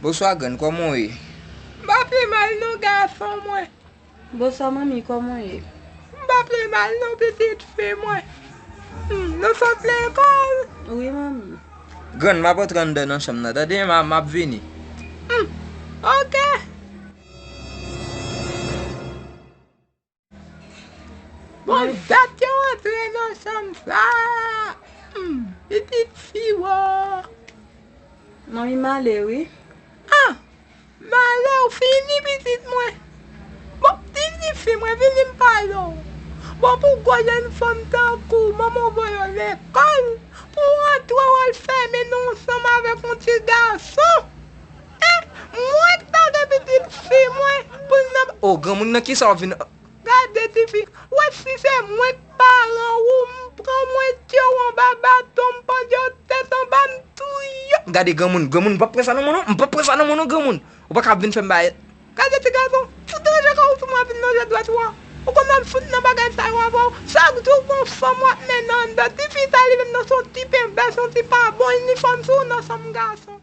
Bonswa grann koman w ye? M pa pi mal non gason mwen. Bonswa manmi koman w ye? M pa pi mal non pitit fi mwen. Nou sot lekòl? Wi manmi. Grann m ap antre anndan nan chanm nan tande m ap vini. Ok. Bon dat yo antre nan chanm sa. Pitit fi woo. Manmi male wi. Ah male ou fini pitit mwen. Bon pitit fi mwen vini m pale w. Bon pou gwo jenn fanm tankou w manman w voye w lekòl pou w antre w al fèmen nan yon chanm avèk yon ti gason. E mwen k tande pitit fi mwen pou l nan. Oh granmoun nan kisa ou vin an. Gade tifi ou wè si se mwen k paran ou m pran mwen tye w anba baton m pandye w tèt anba m touye w. Gade granmoun, granmoun m pap pran sa nan men w non, m pap pran sa nan men w non granmoun, ou paka ap vin fè m bay. Gade ti gason, fout ranje kò ou sou mwen vin lonje dwèt ou an, ou konn map fout nan bagay sa yo avè w, chak jou gon fanm wap mennen anndan, tifi sa li menm nan son ti penbè son ti pa bon inifòm sou w nan sanm gason.